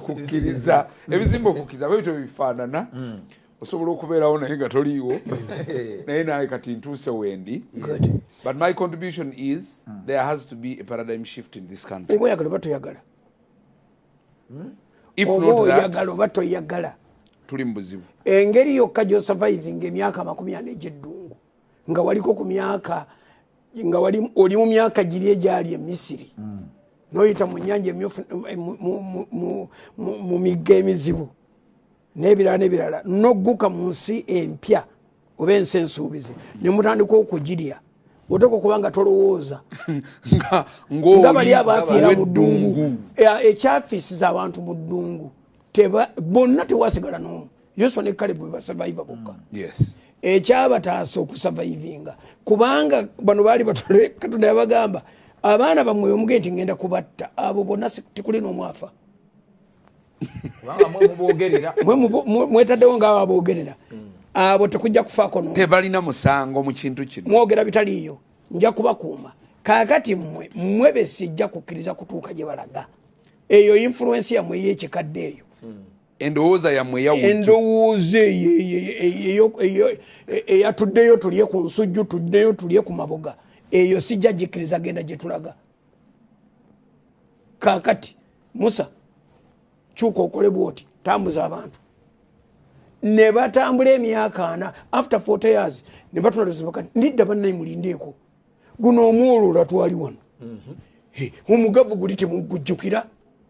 kukkiriza ebizimba okukkiriza bwebityo bifaanana hmm. osobola okubeerawo naye nga toliiwo naye naye kati ntuuse wendi but my contribution is hmm. there has to be a paradigm shift in this country oba oyagala oba toyagala hmm? oba oyagala oba toyagala tuli mu buzibu engeri yokka gyosurviving emyaka amakumi ana egyeddungu nga waliko ku myaka nga oli mu myaka giri egyali e misiri mm. noyita mu nyanja emyufu eh, mu migga emizibu n'ebirala n'ebirala nogguka mu nsi empya oba ensi ensuubize ne mutandika okugirya oteeka okuba nga tolowooza nga bali abaafiira mu ddungu eh, ekyafiisiza abantu mu ddungu bonna tewasigala n'omu yoswa ne kalebu bebasavaiva bokka mm. ekyabataasa okusavaivinga kubanga bano baali batole katonda yabagamba abaana bamwe omuge nti ngenda kubatta abo bonna tikuli nomwafa mwetaddewo ngaabo abogerera mm. abo tekujja kufaako tebalina musango mu kintu kino mwogera bitaliiyo nja kubakuuma kakati mwe mwe besijja kukkiriza kutuuka gye balaga eyo influensi yamwe eyekikadde eyo mm. endowooza yammwe eyawendowooza eyatuddeyo tulye ku nsujju tuddeyo tulye ku maboga eyo sijja gikkiriza genda gye tulaga kakati musa kyuka okole bwoti tambuza abantu ne batambula emyaka ana after 40 years ne batula luzibuka nidda bannaye mulindeeko guno omwoloola twali wano mhm. omugavu guli temugujjukira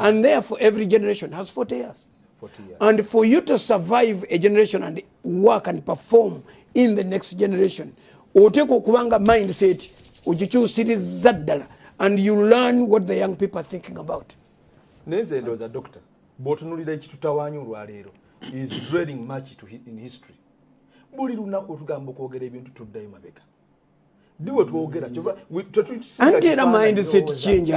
And therefore, every generation has 40 years. 40 years. And for you to survive a generation and work and perform in the next generation, oteekwa okuba nga mindset ogikyusiriza ddala and you learn what the young people are thinking about naye nze ndowooza doctor bw'otunulira ekitutawaanya olwaleero is dwelling much to in history buli lunaku otugamba okwogera ebintu tuddayo mabega diwe twogera kyova anti era mindset change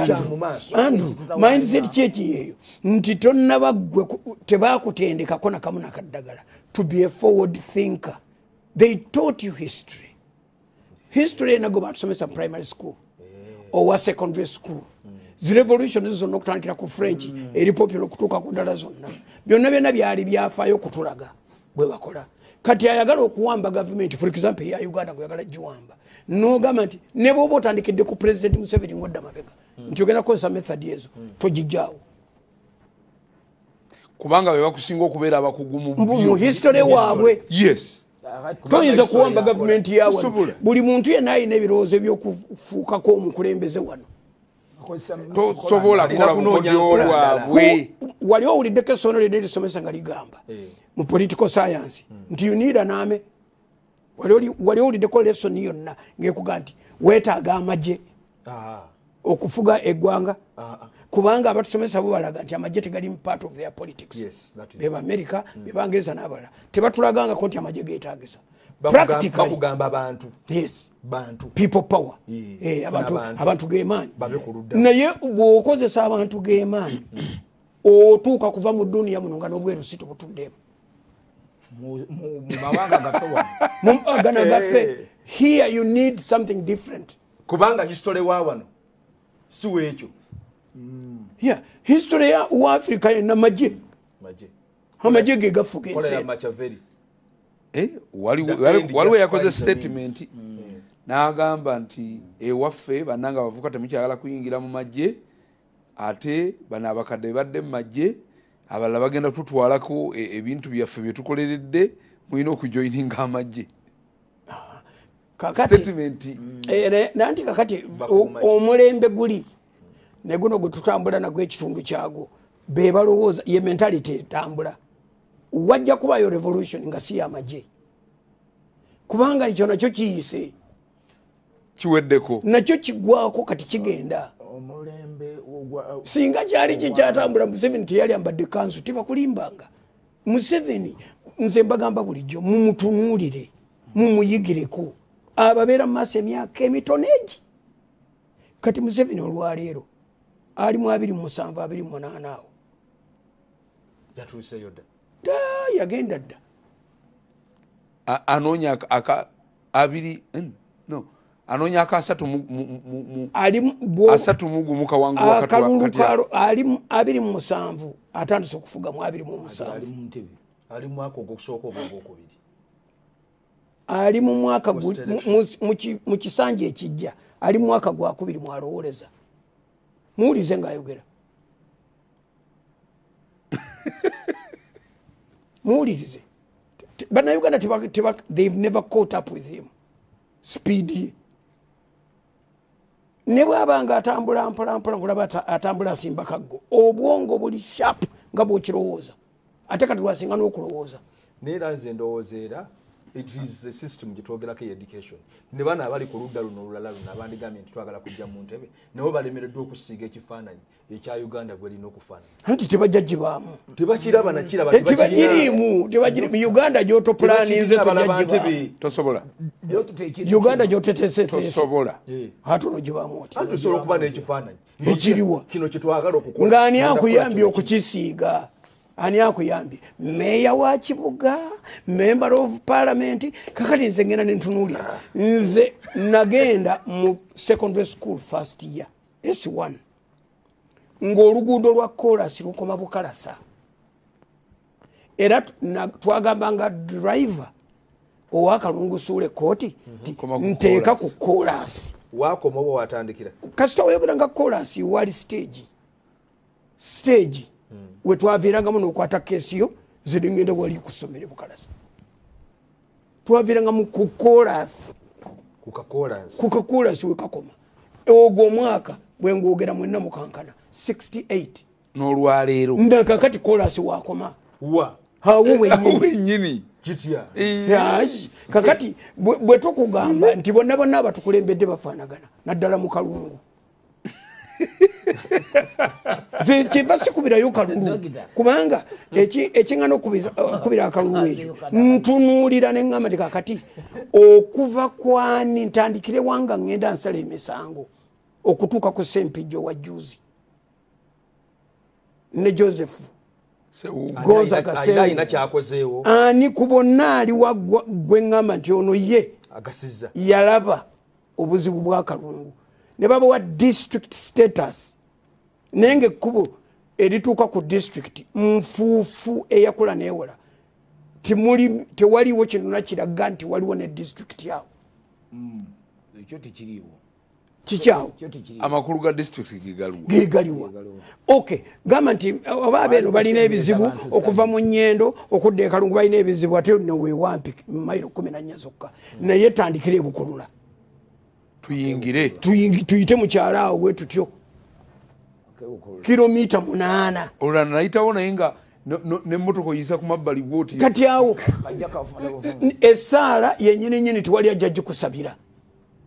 andu mindset change yeyo nti tonnaba gwe tebakutendekako nakamu nakaddagala to be a forward thinker they taught you history history enago batusomesa primary school eh. owa secondary school zirevolution zonna okutandikira ku french mm. eri popular okutuuka ku ddala zonna byonna byonna byali byafaayo okutulaga bwebakola kati ayagala okuwamba gavumenti for example eya uganda gweyagala giwamba nogamba nti nebwoba otandikidde ku president museveni ngodda mabega hmm. nti ogenda kukozesa method ezo hmm. togijjawo kubanga bebakusinga okubeera abakugu mu history waabwe yes toyinza kuwamba gavumenti yawano buli muntu yena ayina ebirowoozo ebyokufuukako omukulembeze wano tosobola kukola bukodyo bwabwe wali owuliddeko essomero lyonna erisomesa nga ligamba eh. mu political science hmm. nti you need an army wali owuliddeko lesson yonna ngekuga nti wetaaga amagye ah. okufuga eggwanga ah, ah. kubanga abatusomesa bo balaga nti amagye tegalimu part of their politics bebamerica hmm. bebangereza n'abalala tebatulagangako nti amagye getagisa bakugamba abantu bantu people power eh, abantu gemaanyi naye bwokozesa abantu gemaanyi otuuka kuva mu duniya muno nga nobweru si tubutuddemu mumawanga gana gaffe eh. here you need something different kubanga history wa wano si wekyo mm. yeah history ya wa africa yenna maje maje amagye ge gafuga ensi eh, waliwo yakoze statement mm. n'agamba nti ewaffe bannanga abavuka temukyagala kuyingira mu magye ate bano abakadde bebadde mu magye abalala bagenda tutwalako e, ebintu byaffe byetukoleredde mulina okujoininga amagye kakati eh, nanti kakati omulembe guli neguno gwetutambula nagwo ekitundu kyagwo bebalowooza ye mentality etambula wajja kubayo revolution nga si yamagye kubanga ekyo nakyo kiyise kiweddeko nakyo kigwako kati kigenda singa kyali kyekyatambula museveni teyali ambadde kansu tebakulimbanga museveni nze mbagamba bulijjo mumutunuulire mumuyigireko ababeera mumaaso emyaka emitono egi kati museveni olwaleero ali mu abiri musanvu abiri munaana awo yatuuseyo dda yagenda dda anoonya aka abiri hmm, no anoonya aka asatu asatu mugumu kawanguakalulu kalo ali abiri mu musanvu atandise okufuga mu abiri mu musanvu ali mu mwaka ogwokusooka obwogwokubiri ali mu mwaka mu kisanja ekijja ali mu mwaka gwakubiri mwalowoleza muwulize ngaayogera muwulirize banauganda they've never caught up with him speed ne bwaba nga atambula mpolampola ngulaba atambula asimba kaggo obwongo buli sharp nga bwokirowooza ate kati lwasinga n'okulowooza naye era nze ndowooza era it is the system gyetwogerako e education ne bana abali ku ludda luno olulala luno abandigambye nti twagala kujja mu ntebe nabo balemereddwa okusiiga ekifaananyi ekya uganda gwelina okufaanana anti tebajja gibaamu tebakiraba nakirabakiriimu eh, uganda gyotopulaninze tosobola uganda gyotetesetesobola eh. ate ono gibaamu oti osobola okuba n'ekifaananyi ekiriwa nga ani akuyambye okukisiiga ani akuyambye meeya wa kibuga member of parliament kakati nze ngenda nentunuulira nze nagenda mu secondary school first year s1 ng'oluguudo lwa kolasi lukoma bukalasa era twagamba nga driver owakalungusuula ekkooti mhm, nteeka ku koolaasi wakoma oba watandikira kasita wayogera nga koolaasi wali siteegi siteegi hmm. wetwaviirangamu nokwata keesi yo zedingenda wali kusomere bukalasa twaviirangamu ku koolaasi ku kakoolaasi wekakoma ogwo omwaka bwengwogera mwenna mukankana 68 n'olwaleero nga kakati kolasi wakoma wa awo wenyini yazi kakati bwe tukugamba nti bonna bonna abatukulembedde bafaanagana naddala mu kalungu kyeva sikubirayo kalulu kubanga ekiŋana okubira uh, akalulu ekyo ntunuulira neŋamba ti kakati okuva kwani ntandikire wanga ŋenda nsala emisango okutuuka ku sempijjo wa juzi ne joseph goza kasealina kyakozeewo ani ku bonna ali waggwa gwe ŋŋamba nti ono ye agasiza yalaba obuzibu bw'akalungu ne babawa district status naye nga ekkubo erituuka ku district nfuufu eyakula neewola timuli tewaliwo kinona kiraga nti waliwo ne district awo mm, ekyo tekiriwo kikyawo amakulu ga disitulikiti gegaliwa ok gamba nti oba abeeno balina ebizibu okuva mu nyendo okudda ekalungu balina ebizibu ate newewampi mairo kumi nanya zokka naye tandikire ebukulula tuyingire tuyite mukyalo awo bwe tutyo kilomita munaana olulana nayitawo naye nga nemotoka oyisa kumabbali bwoti kati awo esaala yenyini nyini tiwali ajja gikusabira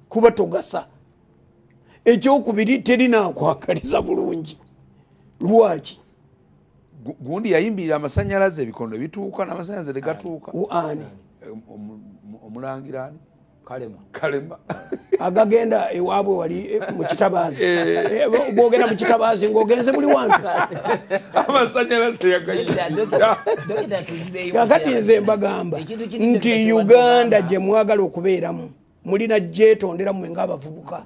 kuba togasa ekyokubiri terinakwakaliza bulungi lwaki gundi yayimbirira amasanyalaze ebikondo bituuka namasanyalaze tegatuuka ani omulangirani kalema kalema agagenda ewaabwe wali eh, mukitabaazi gwogenda eh. eh, mukitabaazi ngaogenze buli wantu amasanyalaze yagayira kakati nze mbagamba nti uganda gyemwagala okubeeramu mulina gyetondera mwe ngaabavubuka